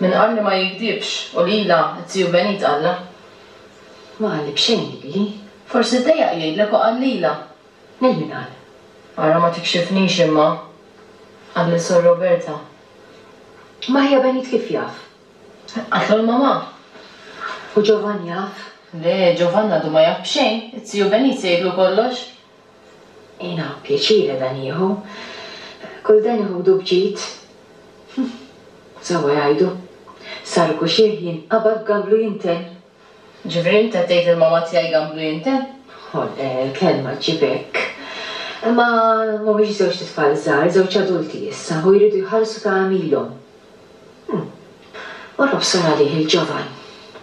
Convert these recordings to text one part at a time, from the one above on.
Min qal li ma jigdibx u lilha t-Tiju Benit qallha. Ma qalli b'xejn lili. Forsi ddejjaq jgħidlek u qal lilha. Lil min qal? Ara ma tikxifnix imma, qal lil Sor Roberta. Imma ħija Benit kif jaf? Qaltlu l-mamà. U Ġovann jaf? Le, Ġovann għadu ma jaf b'xejn. It-Tiju Benit se jgħidlu kollox. Jiena pjaċiri dan nieħu. Kull dan iħudu b'ġid. Hm, sewwa jgħidu. Sar kuxieħ jinqabad gamblu jintenn. Ġifieri int qed tgħid li l-mamma tiegħi gamblu jintenn? Ho le, l-kelma ġġib hekk. Imma m'humiex żewġt itfal żgħar, żewġ adulti issa u jridu jħallsu ta' għamilhom. Hm. U l-obsor għalih il-ġovan.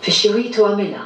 Fix-xi wħid u għamilha.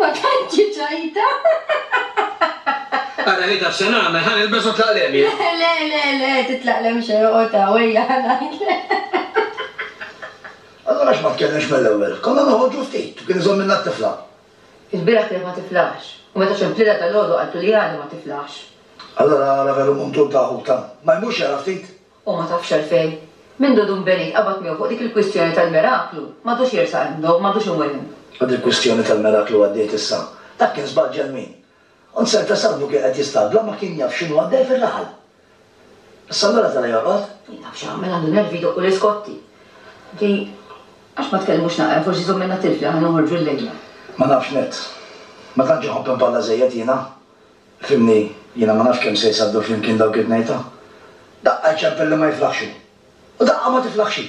Ma tantx hi ċajta. Ara hi taf se nagħmel, ħa nilbes u tlaq lhem jien. Le, le, le, le, titlaq lhem xejn, oqgħod hawn, ejja ħa ngħidlek. Allura għax ma tkellimx mill-ewwel? Konna noħorġu ftit u kien iżomm minnha t-tifla. Il-bieraħ kienet ma tiflaħx u meta xemplilha dalgħodu qaltlu li għadha ma tiflaħx. Allura ara veru muntur ta' ħuta. Ma jmurx jara ftit? U ma tafx għalfejn. Mindu Dun Benit qabad miegħu fuq dik il-kwistjoni tal-miraklu, m'għadux jersaq hemm b'nowm, m'għadux imur hemm. U dil-kwistjoni tal-miraklu għaddiet issa. Dak kien żball ġenwin. U n-ser ta' Salvu kien qed jistabla u ma kien jaf x'inhu għaddej fir-raħal. Issa allura tara jorqod? Min jaf x'jagħmel, għandu nervi jdoqqu l-iskotti. Di, għax ma tkellmux naqra, forsi jżommilna tilf li aħna noħorġu llejla. Ma nafx nett. Ma tantx inħobb inpalla żejjed jiena. Fhimni, jiena ma nafx kemm se jsabbew flimkien dawk it-tnejta. Daqqa jċempel li ma jiflaħx hu. U daqqa ma tiflaħx hi.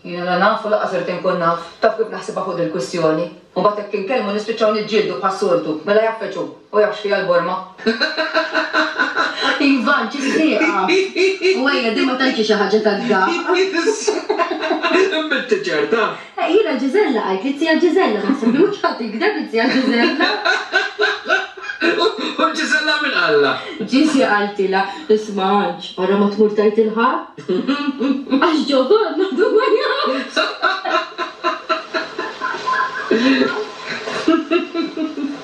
Jiena la naf u laqqas irid inkun naf. Taf kif naħsibha fuq dil-kwistjoni? U mbagħad jekk inkellmu nispiċċaw niġġieldu bħas-soltu. Mela jafeġ hu. Hu jaf x'fiha l-borma. Ivan, ċiss tieqaf. U ejja, din ma tantx hi xi ħaġa tad-daqq. Binti ċerta. Eh jiena Gisella għidt li t-tija Gisella naħseb li mhux ħadd jigdeb it-tija Gisella. U Gisella min qallha? Gisi qaltilha, isma' Anġ, ara ma tmur tgħid lil ħadd. Għax Ġovann għadu ma jafx.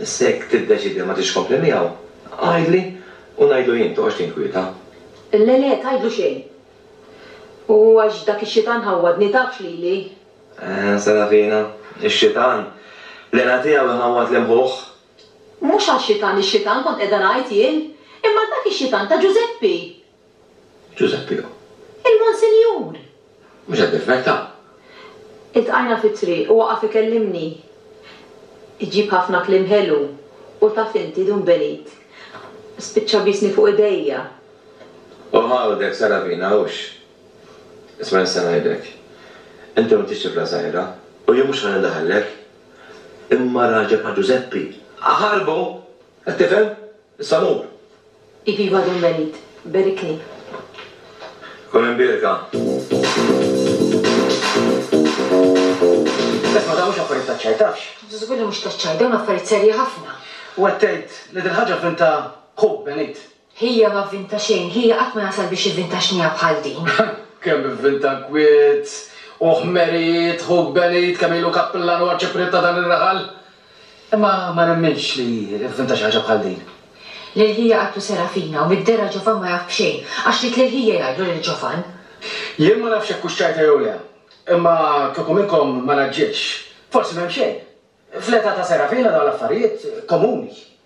Issa jekk tiddeċiedi li ma tridx tkompli miegħu, għidli u ngħidlu jien, toqgħodx tinkwieta. Le, le, tgħidlu xejn. U għax dak ix-xitan ħawwadni, tafx lili. Eħe, Serafina, ix-xitan, l-għena tiegħu jħawwad lil ħuh. Mhux għax-xitan, ix-xitan kont qiegħda ngħid jien, imma dak ix-xitan ta' Ġużeppi! Ġużeppi O. Il-Monsinjur! Mhux qed nifferta'. Iltqajna fit-triq u waqaf ikellimni. Iġib ħafna kliem ħelu u taf inti Dun Benit, spiċċa biesni fuq idejja. O Ħawdek, Saravina, hux. Isma' nista' ngħidlek. Inti m'intix tifla żgħira u jien mhux ħa nindaħallek. Imma raġel bħal Ġużeppi, aħarbu! Qed tifhem? Salum! Iviva Dun Benit! Berikni! Kun imbierka! Isma' dawn mhux affarijiet taċ-ċajtax. Żgur li mhux taċ-ċajt, dawn affarijiet serji ħafna. U qed tgħid li dil-ħaġa vvinta ħuk Benit? Hija ma vvinta xejn, hija qatt ma jasal biex ivvinta xniegħa bħal din. Kemm ivvinta nkwiet u ħmerijiet ħuk Benit, kemm ilu kappillan u arċipriet ta' dan ir-raħal. Imma ma nemminx li fhimtha xi ħaġa bħal din. L-ilħija qatlu Serafina u mid-dehra Ġofan ma jaf b'xejn, għax ried l-ilħija jgħidlu lil Ġofan. Jien ma nafx jekk hux ċajta jew le, imma kieku minnkom ma ngħaġġilx, forsi m'hemm xejn. Fl-età ta' Serafina dawn l-affarijiet komuni.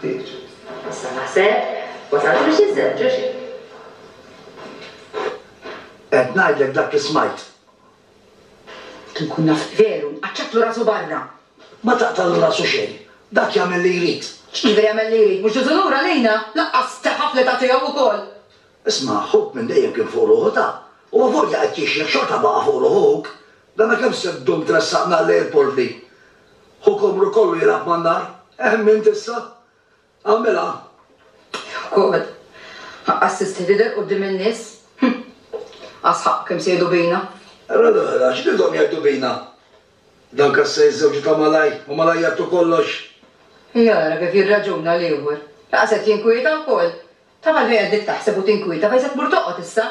Ħtieġ. Issa naħseb, wasaltu biex inżewġu xi? Qed ngħidlek dak li smajt. Kieku nkun naf veru, nqaċċatlu rasu barra! Ma taqtagħlu rasu xejn, dak jagħmel li jrid. X'jiġifieri jagħmel li jrid? Mhux diżunur għalina? Lanqas teħaf l-età tiegħu wkoll! Isma', ħuk minn dejjem kien fuq ruħu ta'. Huwa volja qed jixjieħ xorta baqa' fuq ruħu ħuk. Dana kemm se ddum tressaqna lejl porli? Hu komru kollu jilgħab man-nar. Ehm int issa? Agħmilha! Joqgħod. Ħaqqas tistħi tidher quddiem in-nies? Hm! Qas ħaqqu kemm se jgħidu bina. Ara l-oħra, x'ridhom jgħidu bina? Dan kassa jiżżewġu ta' malajr u malajr jagħtu kollox. Ejja ara kif jirraġuna l-ieħor. Laqas qed jinkwieta wkoll. Taf għalfejn qegħdek taħseb u tinkwieta fejn se tmur toqgħod issa?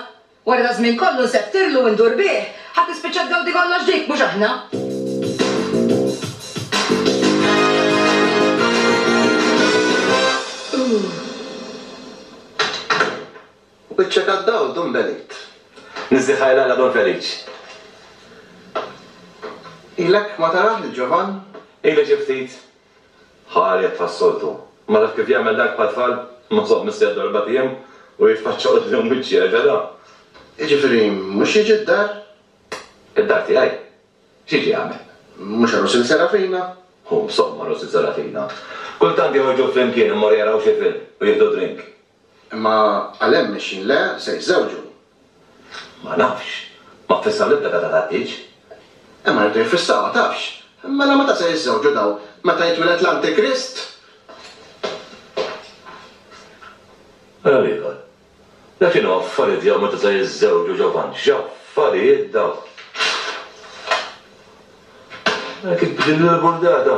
Wara daż-żmien kollu nseftirlu u ndur bih, ħa tispiċċa tgawdi kollox dik, mhux aħna. Wiċċek għad-dawl, Dun Benit. Niżżi ħajr l-Alla, Dun Feliċ. Ilek ma tarah lil Ġovann? Ili xi ftit. Ħareġ bħas-soltu. Imma taf kif jagħmel dak bħat-tfal? Imma żomm missi għad-darba tiem u jitfaċċa quddiem wiċċi, hekk għada? Jiġifieri mhux jiġi d-dar? Id-dar tiegħi? X'jiġi jagħmel? Mhux għal Usil Serafina? Hu, żomm għal Usil Serafina. Kultant joħorġu flimkien immorru jaraw xi film u jieħdu drink. Imma għalhemm mexjin le, se jiżżewġu. Ma nafx. Ma ffissaw l-ebda data tat-tieġ. Imma jridu jiffissawha, tafx. Mela meta se jiżżewġu dawn? Meta jitwiled l-Antikrist? Ara l-ieħor. Dak x'inhu affarijiet jew meta se jiżżewġu Ġovanni. X'affarijiet dawn! Għalhekk b'din il-burdata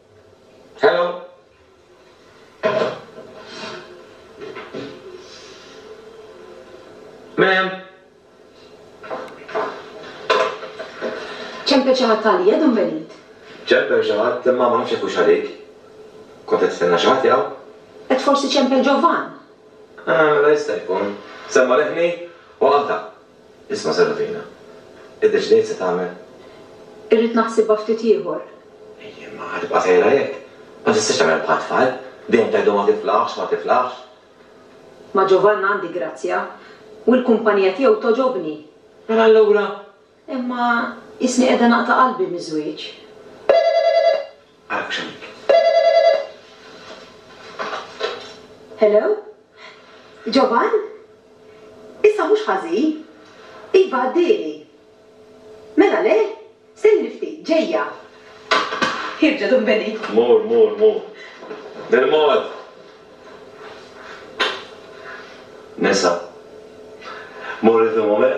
Hello. Min hemm? Ċemper xi ħadd għalija, Dun Benit? Ċemper xi ħadd, imma ma nafx jekk hux għalik. Kont qed tistenna xi ħadd jaw? Qed forsi ċemper Ġovan? Ah, mela jista' jkun. Semma' leħni u qata'. Isma' Serafina, iddeċidejt se tagħmel? Irrid naħsibha ftit ieħor. Ejja, imma ħa tibqa' sejra hekk. Ma tistax tagħmel bħat-tfal, dejjem tgħidhom ma tiflaħx, ma tiflaħx. Ma' Ġovann għandi grazzja, u l-kumpanija tiegħu togħġobni. Mela allura? Imma isni qiegħda naqta' qalbi miż-żwieġ. Action. Hello? Jovan? Issa mhux ħażin? Iva għaddieli. Mela le? Stenni ftit, ġejja. Ħierġet u nbeniet. Mur, mur, mur. Bil-mod! Nisa. Mur inti u Momer?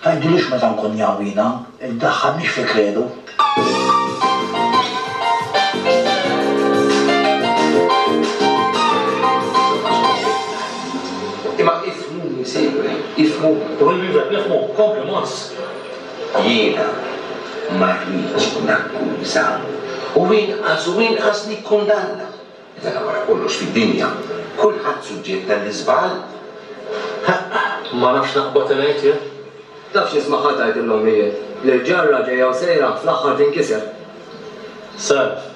Tgħidilix meta nkun jgħawwina, iddaħħalnix fi kredu. Imma ifhmuni, Sejwieħ, ifhmuni. U min wieħed nifhmu, kompli Mons. Jiena ma rridx nakkuża u inqas u inqas nikkundanna. Mela wara kollox fid-dinja kulħadd suġġett għall-iżball. Ma nafx naqbad ngħid jien. Tafx nisma' ħadd jgħid lill-ommijiet li l-ġarra ġejja u sejra fl-aħħar tinkiser. Self,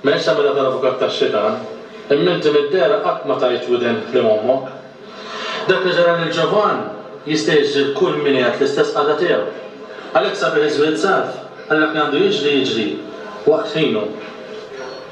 M'hemmx tagħmilha tal-avukat tax-xitan, imma inti mid-dehra qatt ma tajt widen kliem ommok. Dak li ġara lil Ġovann jista' jiġri lil kull min qiegħed l-istess qagħda tiegħu. Għalhekk sabiħ iż-żwied self, għal dak li għandu jiġri jiġri waqt ħinu.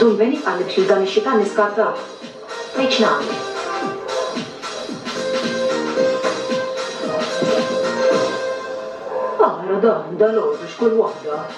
Dun Benny qal li biex lil dan ix-xitan niskartah. Tgħid x'nagħmel? Ara dan, dalgħodu x'kull waħda!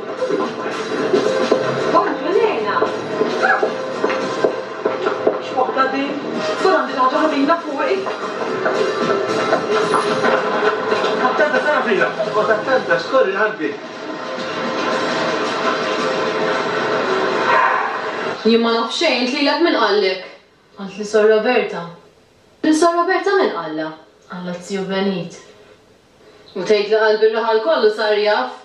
Jien ma naf xejn, int lilek min qallek? Qaltli Sor Roberta. Lil Sor Roberta min qallha? Qallha Zio Benit. U tgħid li qalb ir-raħal kollu sar jaf?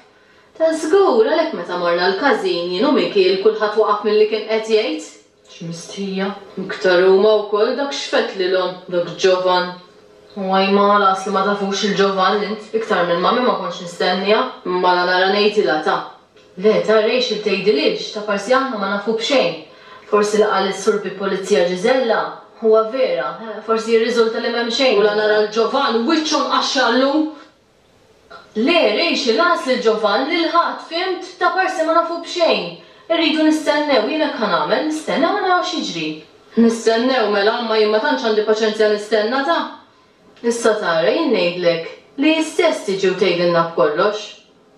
Żgur, għalhekk meta morna l-każin, jien u Mikiel, kulħadd waqaf milli kien qed jgħid. X'mistħija! Iktar huma wkoll, dak x'fed lilhom, dak Ġovann. U ajma, lanqas li ma tafux lil Ġovann int, iktar minn mammi ma kontx nistenniha. Mala nara ngħidilha ta'. Le, ta' Rachel tgħidilhiex, ta' parsi aħna ma nafu b'xejn. Forsi li qal is-Sur bi Pulizija Gisella, huwa vera, eh, forsi jirriżulta li m'hemm xejn. U la nara lil Ġovann, wiċċu mqaxxar llum! Le, Rachel, għas lil Ġovann, lil ħadd, fhimt? Ta' parsi ma nafu b'xejn. Irridu nistennew, jien hekk ħa nagħmel, nistennew u naraw x'jiġri. Nistennew, mela, imma jien ma tantx għandi paċenzja nistenna, ta! Issa tara, jien ngħidlek li hi stess tiġi u tgħidilna b'kollox.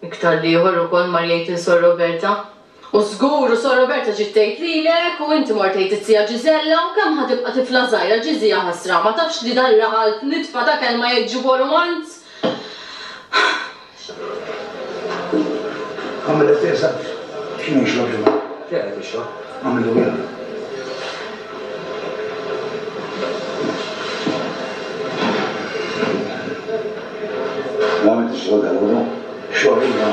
Iktar l-ieħor ukoll mar jgħid lil Sor Roberta. U żgur, u Sor Roberta ġiet tgħid lilek, u inti mort tgħid iz-Zija Ġiżella, u kemm ħa tibqa' tifla żgħira ġiżija ħasra, ma tafx li dan raħal f'nitfa ta' kelma jgħid ġibgħu rumanz? X'għamilna? Għamel it-te żgħir. X'inhu jixrob Ġimgħa? X'inhu qed ixrob? Għamillu biera. Ma għamiltx xogħolek allura? Xogħol iva.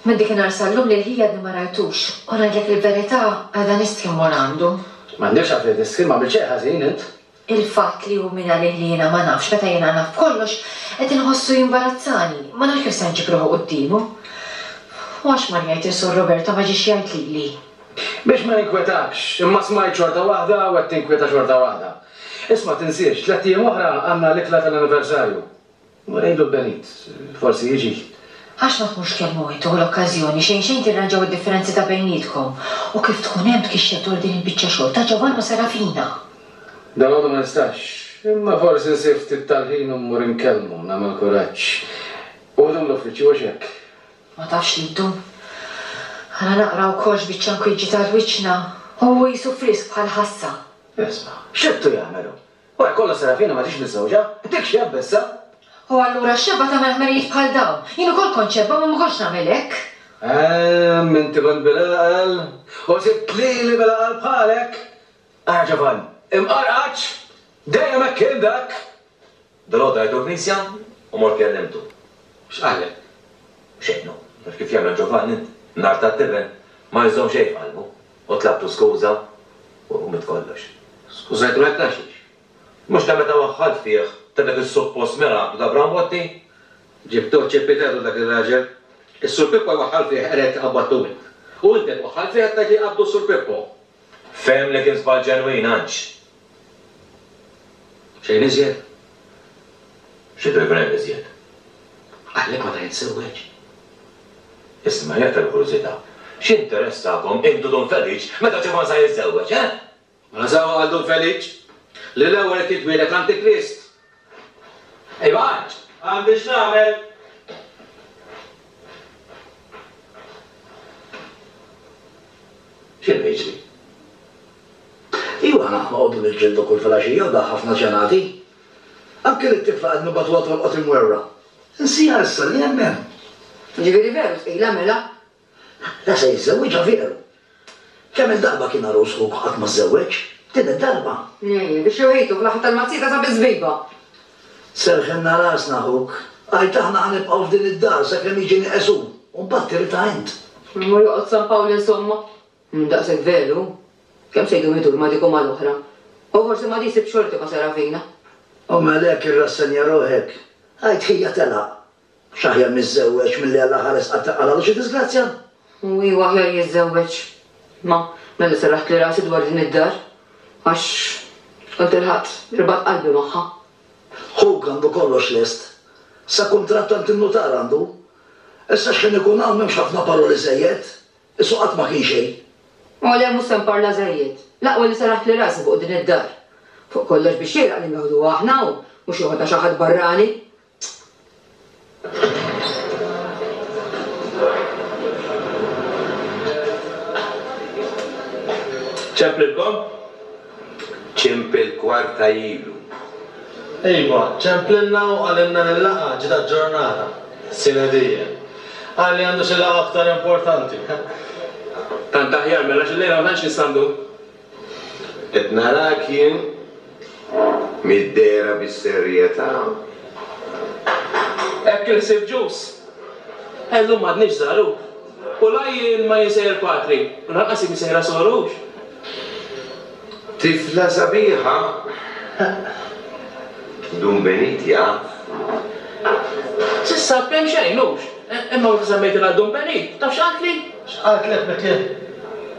Minn dikinhar sal-lum lil ħija għadni ma rajtux, u ngħidlek il-verità, għadha nistħi mmur għandu. M'għandekx għalfejn tistħi, m'għamilt xejn ħażin int. Il-fatt li hu min għalih li jiena ma nafx meta jiena naf b'kollox, qed inħossu jimbarazzani, ma nafx kif se nġib ruħi quddiemu. U għax mar jgħid li Sur Roberto ma ġiex jgħid lili? Biex ma ninkwetakx, imma smajt xorta waħda u qed tinkwieta xorta waħda. Isma' tinsiex, tlett ijiem oħra għandna l-ikla tal-anniversarju. U ngħidlu l-benit, forsi jiġi. Għax ma tkunx kemm hu inti u l-okkażjoni xejn xejn tirranġaw id-differenzi ta' bejnietkom u kif tkun hemm tgixxel dwar din il-biċċa xogħol ta' Ġovann u Serafina. Dalgħodu ma nistax, imma forsi nsib ftit tal-ħin u mmur inkellmu, nagħmel kuraġġ. U jdum l-uffiċċju għax hekk. Ma tafx li jdum. Għala naqra wkoll x'biċċa nkwiġġi tal-wiċċna? Hu qisu frisk bħall-ħassa. Isma', x'għedtu jagħmel hu? Wara kollox Serafina ma ġietx miżżewġa, dik xi abbessa! U allura x-xebgħa tagħmel ħmerijiet bħal dawn? Jien ukoll kont xebgħa imma ma kontx nagħmel hekk! Ehm, inti kont bil-għaqal u sibt lili bil-għaqal bħalek! Ara Ġovann, imqarqaċ! Dejjem hekk kien dak! Dalgħodu għidu l-knisja u mort kellimtu. X'qallek? Xejn hu, taf kif jagħmel Ġovann int, nhar tat-tiben, ma jżomm xejn f'qalbu. U tlabtu skuża? U mit kollox. Skużajtu hekk għax hix. Mhux ta' meta waħħalt fih, ta' dak is-suppost miraklu ta' Brambotti? Ġibtuh ċipitetu dak ir-raġel. Is-Sur Pippo jwaħħal fih qed jgħid qabadtu int. U int qed twaħħal fih qed tgħid li jqabbdu s-Sur Pippo. Fehem li kien żball ġenwin għax, Xejn iżjed? Xi drivel hemm iżjed? Għalhekk ma ta' jinsewweġ. Isma', jekk tal-kurżità, x'interessakom intu Dun Feliċ meta Ġovann sa jiżżewweġ, eh? Mela sewwa għal Dun Feliċ li l-ewwel irid jitwieled Antikrist Ejwa għadd! Għandi x'nagħmel! X'inhu jiġri? Ejwa aħna noqogħdu niġġieldu kull filgħaxija u dak ħafna ġenati. Anki lit-tifla qed nibagħtuha tolqot imwerwra. Insiha issa li hemm hemm. Jiġifieri veru tqila mela? La se jiżżewwiġha veru. Kemm-il darba kien għarus ħuk u qatt ma żżewweġ? Din id-darba. Nejje, biex joħejtu fl-aħħar tal-mazzita ta' biżbiba! Serrħilna rasna ħuk. Għid aħna ħa nibqgħu f'din id-dar sakemm jiġi nieqesu u mbagħad tiritha int. Imma joqgħod San Pawl insomma? Mhu daqshekk veru. Kemm se jdum idur ma' dik u mal-oħra. U forsi ma' di jsib xorti ma' Serafina. U mela hekk irrassenja ruħek? Għid ħija telaq. X'aħjar niżżewweġ milli Alla ħares qattgħa għal għadu xi diżgrazzja? U hu aħjar jiżżewweġ. Ma, mela serraħtli rasi dwar din id-dar, għax kont irħaqt, irbatt qalbi magħha. Ħuk għandu kollox lest. Sa kuntratt għand in-nutar għandu. Issa x'ħin ikun hawn m'hemmx ħafna paroli żejjed. Qisu qatt ma kien xejn. O le, mhux se nparla żejjed. L-aqwa li serraħtli rasi fuq din id-dar. Fuq kollox biex jgħiraq li ngawduha aħna hawn, mhux joħodha xi ħadd barrani. Ċemp lilkom? Ċemp il-kwarta ilu. Iva, ċemp lilna u qalilna li l-laqgħa ġiet aġġornata, sine die. Qal li għandu xi laqgħa aktar importanti. Tant aħjar mela għax illejla ma tantx nistgħu ndu. Qed narak jien middehra bis-serjetà. Hekk iħsib Ġus. Llum m'għadniex żgħar hu. U la jien ma jinsejjer patri, u lanqas hi msejra sor hux. Tifla sabiħa! Dun Benit jaf? S'issa kemm xejn hux. Imma meta semmejtilha Dun Benit, taf x'qaltli? X'qaltlek, Mikiel?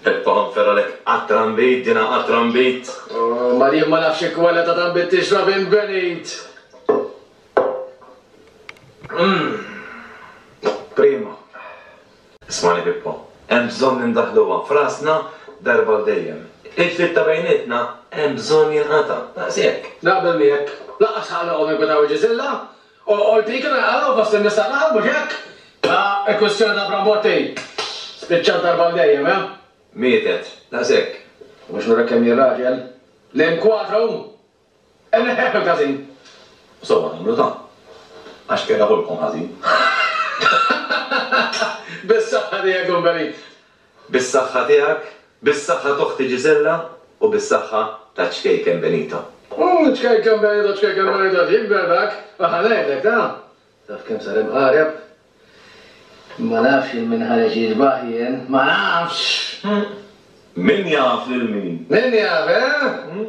Peppa ħanfer għalek għat-trambit, din ha għat-trambit. Oh, ma jien ma nafx x'kwalità ta' trambit tixrab int Benit! Umm! Prima! Ismagħni Pippo, hemm bżonn li ndaħħluha f'rasna darba għal dejjem. Il-ftit ta' bejnietna hemm bżonn jinqata', daqshekk. Naqbel miegħek. Lanqas ħa noqogħdu ninkwetaw il-Ġisilla. U dik li qalu fost in-nisa l-aħħar, mhux hekk? Ah, il-kwistjoni ta' Bramotti spiċċat darba għal dejjem, eh? Mietet, daqshekk. U biex nurek kemm jien raġel, l-inkwadru inneħħieh mill-każin. U sewwa tagħmlu ta'. Għax qiegħda ħolqhom ħażin. Bis-saħħa tiegħek Umberit. Bis-saħħa tiegħek, bis-saħħa t'oħti Gisella u bis-saħħa taċ-ċkejken Benito. Ooh, ċkejken Benito, ċkejken Benito qed jikber dak, u ħa ngħidlek ta'. Taf kemm sar imqareb? Ma nafx il min ħareġ jiġbah jien, ma nafx! Min jaf lil min? Min jaf, eh?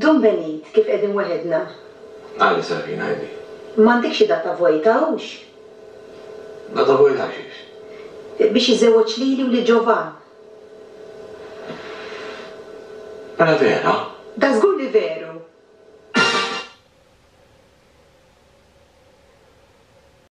Don Benit, kif qegħdin weħedna? Qali Sabrina, Ħajti. M'għandek xi data vojta, hux? Data vojta għaxiex? Biex iżewweġ lili u lil Ġovann. Mela vera? Dażgur li veru!